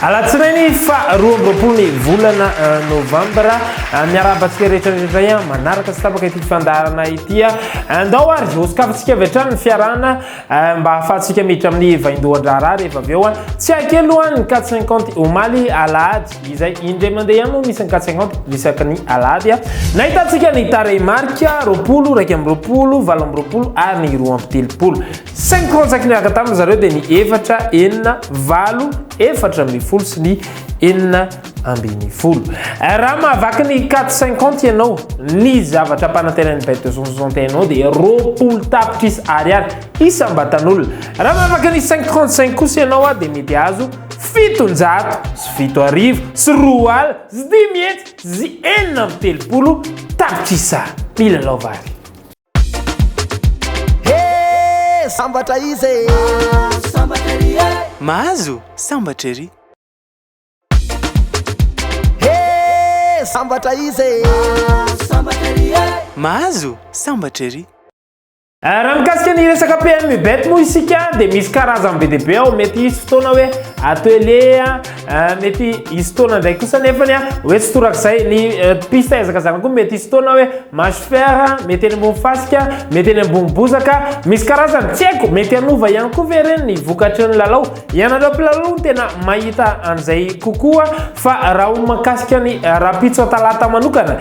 Alatsinainy fa roa amby roapolo ny volana euh, novambra euh, miarahaba antsika rehetra rehetra ihany manaraka sy tapaka ity fandaharana ity euh, andao ary hosokafantsika avy hatrany ny fiarahana Eh, mba ahafahantsika miditra amin'ny vaindohan-draharaha rehefa avy eo a tsy hay kely aloha ny quatre cinquante omaly alahady izay indray mandeha ihany moa misy ny quatre cinquante isaky ny alahady a nahitantsika ny tarehimarika roapolo raika amby roapolo valo amby roapolo ary ny roa amby telopolo cinq rantsaky niaraka tamin'ny zareo dia ny efatra enina valo efatra ambin'ny folo sy ny enina ambin'ny folo. Eh, raha mahavaky ny 450 ianao, ny zavatra ampanantenain'ny bet 261 ao dia roapolo tapitrisa ariary isam-batan'olona. Raha mahavaky ny 535 kosa ianao ah, dia mety azo fitonjato sy fito arivo sy roa ala sy dimy hetsy sy enina amby telopolo tapitrisa mila laovary. Hey, sambatra izy e! Sambatra ery e! Mahazo sambatra ery! Sambatra izy e Mahazo sambatra ery e Mahazo sambatra ery Eh, raha mikasika ny resaka PMU bet moa isika dia misy karazany be dia be ao mety hisy fotoana hoe atelier eh, mety hisy fotoana indray kosa nefa ny hoe tsy torak'izay ny eh, piste ezakazana koa mety hisy fotoana hoe mache fer mety eny ambony fasika mety eny ambony bozaka misy karazany tsy haiko mety hanova ihany koa ve ireny ny vokatry ny lalao Ianareo mpilalao no tena mahita an'izay kokoa fa raha ho mahakasika ny rahampitso Talata manokana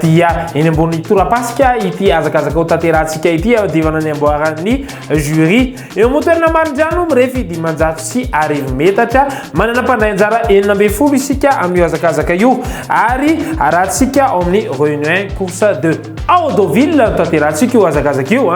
dia eny ambony torapasika ity hazakazaka ho tanterahantsika ity hiadivana ny amboaran'ny Jury. Eo amin'ny toerana Marindrano mirefy dimanjato sy arivo metatra, manana mpandray anjara enina ambin'ny folo isika amin'io hazakazaka io ary arahantsika ao amin'ny Reunion un, Course deux. Ao Deauville no tanterahantsika io hazakazaka io.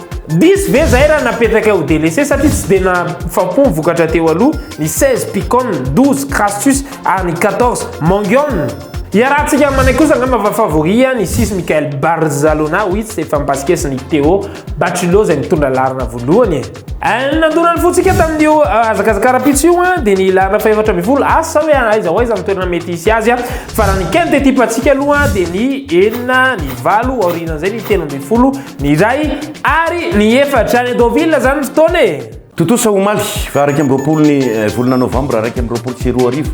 Diso ve zahay raha napetrakay ho délaissé satria tsy dia nahafam-po ny vokatra teo aloha, ny 16 Picon, 12 Crassus ary ny 14 Mangion? Iarahantsika aminay kosa angamba fa favori ihany i Sis Michael Barzalona ho hitsy efa mipasikesy ny Théo Baculo izay mitondra laharana voalohany e. Eh, nandona ny fontsika tamin'io eh, hazakazaka ara-pitso io eh, dia ny laharana fahefatra ambin'ny folo asa hoe aiza ho aiza ny toerana mety hisy azy fa raha ny quinte ekipantsika aloha dia ny enina ny valo aorianan'izay ny telo ambin'ny folo Ny iray ary ny efatra any Deauville zany ny fotoana e! Tontosa omaly faha iraika amby roapolo ny volana novambra iraika amby roapolo sy roa arivo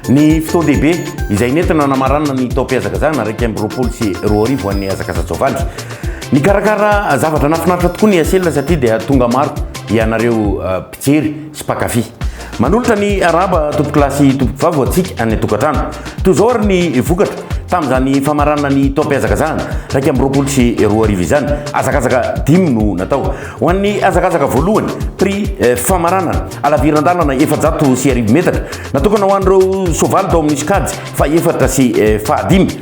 ny fotoan-dehibe izay nentina namaranana ny taom-pihazakazahana iraika amby roapolo sy roa arivo ho an'ny hazakaza-tsoavaly. Nikarakara zavatra nahafinaritra tokoa ny Acelina satria dia tonga maro ianareo Jery sy mpankafy. Manolotra ny arahaba tompoko lahy sy tompoko vavy ho antsika any an-tokantrano. Toy izao ary ny vokatra, tamin'izany famaranana ny taom-pihazakazahana iraika amby roapolo sy roa arivo izany, hazakazaka dimy no natao. Ho an'ny hazakazaka voalohany, prix, famaranana, halaviran-dalana efajato sy arivo metatra, natokana ho an'ireo soavaly tao amin'ny sokajy fahefatra sy fahadimy.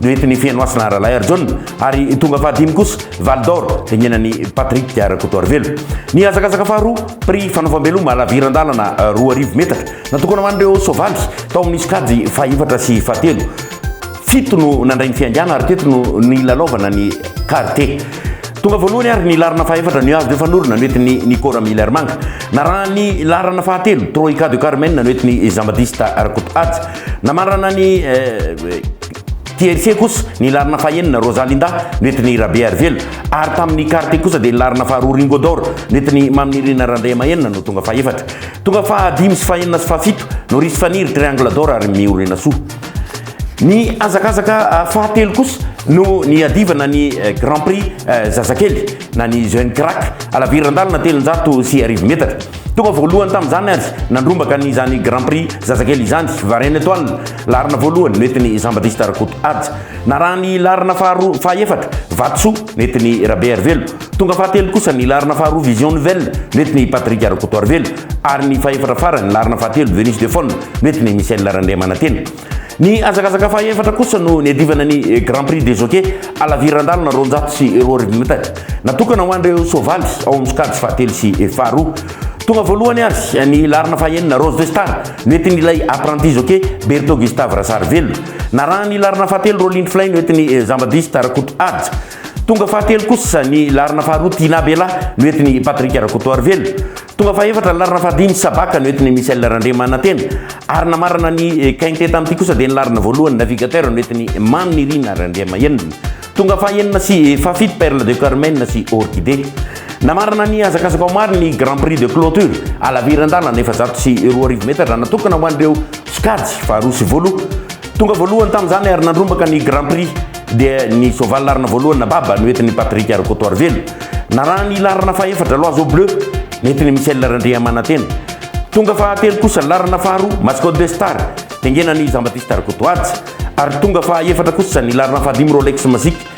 Duet ny Fenohasina Ralahy ary John ary tonga fahadimy kosa Val d'or tengenan'i Patrick Rakotoarivelo. Ny hazakazaka faharoa, prix fanaovam-beloma laviran-dalana roa arivo metatra, natokana ho an'ireo soavaly tao amin'ny sokajy fahefatra sy fahatelo. Fito no nandray ny fihaingana ary teto no nilalaovana ny karte. Tonga voalohany ary ny laharana fahefatra Nuages de Fanorona noentin'i Nico Ramilermanga. Narahan'ny laharana fahatelo Troika de Carmen noentin'i Jean Baptiste Rakotohaja. Namarana ny TRC kosa ny laharana fahenina, Rosalindah, noentin'i Rabearivelo, ary tamin'ny Carte kosa dia ny laharana faharoa, Ringo d'or, noentin'i Maminirina Randriamahenina no tonga fahefatra. Tonga fahadimy sy fahenina sy fahafito, Noris Faniry, Triangle d'or, ary Miorinasoa. Ny hazakazaka fahatelo kosa no niadivana ny Grand Prix zazakely na ny Jeune Crack, halavirandalana telonjato sy arivo metatra. Tonga voalohany tamin'izany ary nandrombaka ny izany Grand Prix zazakely izany, Varenne Etoile, laharana voalohany, nentin'i Jean Baptiste Rakoto Ady. Narahan'ny laharana faharoa, fahaefatra, Vatosoa, nentin'i Rabe Harivelo. Tonga fahatelo kosa ny laharana faharoa Vision Nouvelle, nentin'i Patrick Rakotoarivelo, ary ny fahefatra farany, laharana fahatelo, Venus de Faune, nentin'i Michel Randriamanantena. Ny hazakazaka fahaefatra kosa no niadivana ny Grand Prix des Jockeys halaviran-dalana roanjato sy roa arivo metatra, natokana ho an'ireo soavaly ao amin'ny sokajy fahatelo sy faharoa. Tonga voalohany ary ny laharana fahenina Rose de Star noentin'ilay apprenti jockey Berto Gustave Rasarivelo. Narahan'ny laharana fahatelo Rolling Flay noentin'i Jean-Baptiste Rakoto Haja. Tonga fahatelo kosa ny laharana faharoa Tina Bella noentin'i Patrick Rakotoarivelo. Tonga fahefatra ny laharana fahadimy, Sabaka, no entin'i Michel Randriamanantena, ary namarana ny quintet tamin'ity kosa dia ny laharana voalohany, Navigateur, no entin'i Mamy Nirina Randriamahenina. Tonga fahenina sy fahafito, Perle de Carmen sy Orchidée. Namarana ny hazakazaka ho maro ny Grand Prix de clôture, halaviran-dalana efajato sy roa arivo metatra, natokana ho an'ireo sokajy faharoa sy voaloha. Tonga voalohany tamin'izany ary nandrombaka ny Grand Prix dia ny soavaly laharana voalohany na baba no entin'i Patrick Rakotoarivelo. Naraha ny laharana fahefatra Loiseau Bleu nentin'i Michel Randriamanantena. Tonga fahatelo kosa ny laharana faharoa Mascot de Star tengenan'i Jean Baptiste Rakotoaja ary tonga fahaefatra kosa ny laharana fahadimy Rolex Magic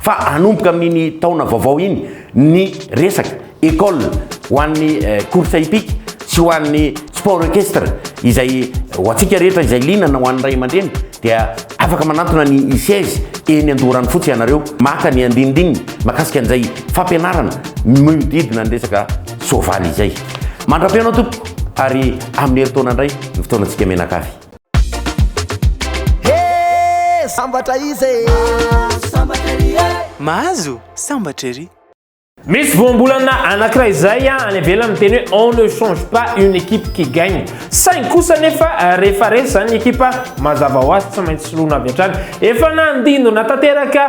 fa hanomboka amin'iny taona vaovao iny ny resaka école ho an'ny course hippique sy ho an'ny sport équestre izay ho antsika rehetra izay liana na ho an'ny ray aman-dreny dia afaka manantona ny ICES eny Andoharanofotsy ianareo maka ny andinindininy makasika an'izay fampianarana mihodidina ny resaka soavaly izay. Mandra-pihaona tompoko ary amin'ny herintaona indray ny fotoanantsika mianakavy. Hee sambatra izy e. Mahazo sambatra ery e. Mahazo sambatra ery. Misy voambolana anankiray izay any ivelany miteny hoe on ne change pas une équipe qui gagne. Saingy kosa anefa rehefa resy izany ny ekipa, mazava ho azy tsy maintsy soloina avy hatrany. Efa nandindona tanteraka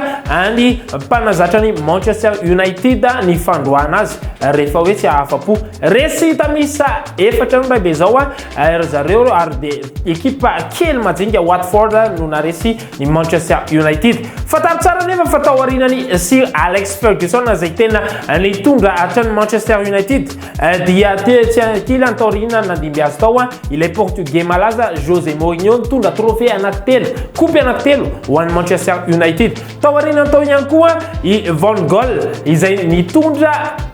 ny mpanazatra ny Manchester United ny fandroahana azy rehefa hoe tsy hahafa-po. Resy hita miisa efatra no indray be izao. Eh, ry zareo ary dia ekipa kely majinika Watford no naresy ny Manchester United. Fantaro tsara anefa fa tao aorianan'i Sir Alex Ferguson izay tena nitondra hatrany Manchester United eh, dia tetsy ankilany tao aoriana nandimby azy tao ah, ilay Portugais malaza Jose Mourinho nitondra trophée anankitelo, kopy anankitelo ho an'i Manchester United. Tao aoriana tao ihany koa i Van Gaal izay nitondra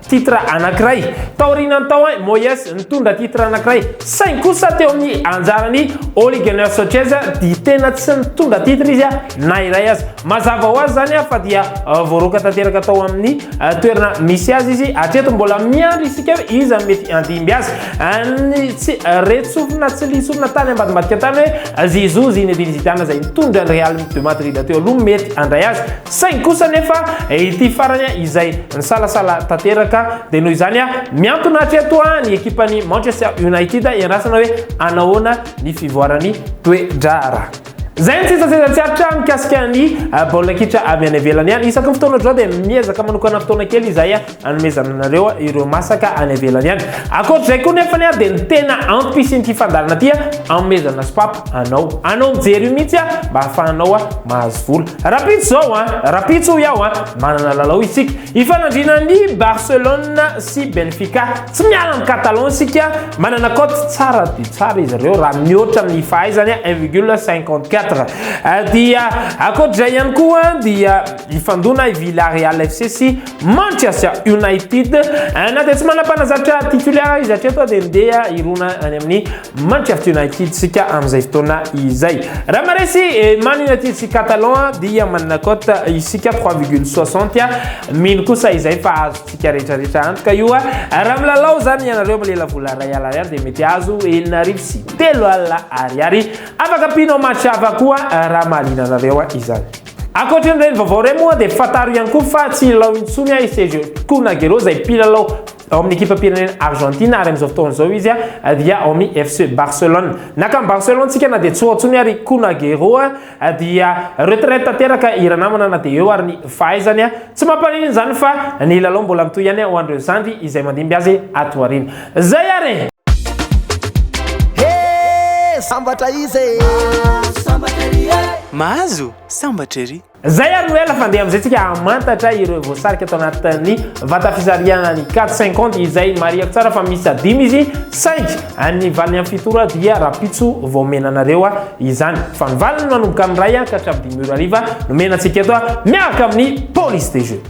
titre anankiray. Tao aoriana tao i Moyes nitondra titre anankiray. Saingy kosa teo amin'ny anjaran'i Ole Gunnar Solskjaer dia tena tsy nitondra titre izy na iray aza. Mazava ho azy izany fa dia voaroaka tanteraka tao amin'ny toerana misy azy izy. Hatreto mbola miandry isika hoe iza no mety handimby azy. Ny tsy re-tsofina, tsy li-tsofina tany ambadimbadika tany hoe Zizou Zinedine Zidane izay nitondra ny Real de Madrid teo aloha mety handray azy, saingy kosa anefa ity farany izay nisalasala tanteraka, dia noho izany mihantona hatreto ny ekipan'ny Manchester United hiandrasana hoe hanahoana ny fivoaran'ny toe-draharaha. Izay ny sesasesa tsy aritra mikasika ny baolina kitra avy any ivelany. Isaky ny fotoana drao dia miezaka manokana fotoana kely izahay Anomezana anareo ireo masaka any ivelany any. Ankoatr'izay koa nefa ny aho dia ny tena ampisin'ity fandaharana ity anomezana sopapa anao. Anao mijery io mihitsy aho mba hahafahanao mahazo vola. Rahampitso izao an! Rahampitso hoy aho an! Manana lalao isika. Hifanandrina an'i Barcelone sy Benfica. Tsy miala amin'i Catalan isika. Manana cote tsara dia tsara izy ireo raha mihoatra amin'ny fahaizany un virgule cinquante quatre. Dia ankoatr'izay ihany koa dia hifandona i Villarreal FC sy Manchester United eh, na dia tsy manam-panazatra titulaire izy hatreto dia ndeha hirona any amin'ny Manchester United sika amin'izay fotoana izay raha maresy eh, Man United sy Catalan dia manana cote isika 3,60 mino kosa izay fa azontsika rehetrarehetra antoka io raha milalao izany ianareo milela vola ray ala ariary dia mety azo enina arivo sy telo ala ariary afaka pino match hafa koa raha mahaliana anareo izany Ankoatry ny reny vaovao reny moa dia fantaro ihany koa fa tsy hilalao intsony i Sergio Kun Agüero izay mpilalao ao amin'ny ekipam-pirenena Argentina ary amin'izao fotoana izao izy dia ao amin'ny FC Barcelone. Naka an'i Barcelone tsika na dia tsy ho ao intsony ary i Kun Agüero dia retraite tanteraka i ranamana na dia eo ary ny fahaizany. Tsy mampaninona izany fa ny lalao mbola mitohy ihany ho an'ireo zandry izay mandimby azy ato aoriana. Zay ary e! He! Sambatra izy e! Mahazo sambatra ery e! Mahazo sambatra ery! Zay ary no ela fa ndeha amin'izay tsika hamantatra ireo voasarika tao anatin'ny vata fisarihana ny carte 50 izay marihako tsara fa miisa dimy izy saingy ny valiny amin'ny fito ora dia rapitso vao omena anareo izany fa ny valiny manomboka amin'ny iray ka hatramin'ny dimy ora hariva no omena antsika eto miaraka amin'ny police de jeu.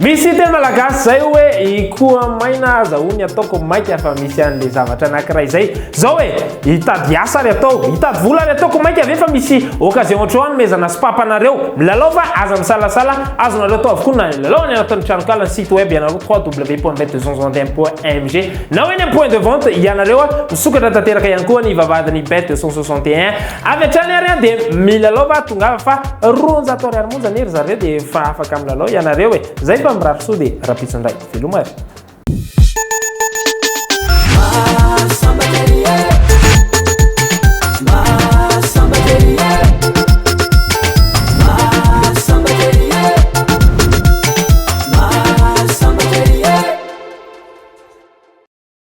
Misy teny malagasy zay hoe ikoa maina aza hono ataoko maika fa misy an'le zavatra anakiray zay zao e, hitady asa ary atao, hitady vola ary ataoko maika ve fa misy occasion otrao anomezana sopapa anareo milalao fa aza misalasala azonareo atao avokoa na hilalao any anatin'ny tranonkala ny site web ianareo www.bet261.mg na hoe any am point de vente ianareo misokatra tanteraka ihany koa ny vavahadin'ny bet261 Avy hatrany ary an dia milalao va tongava fa roanjato ariary monja anie ry zareo dia efa afaka milalao ianareo e! Zay fa mirary soa dia rampitso ndray! Veloma ry.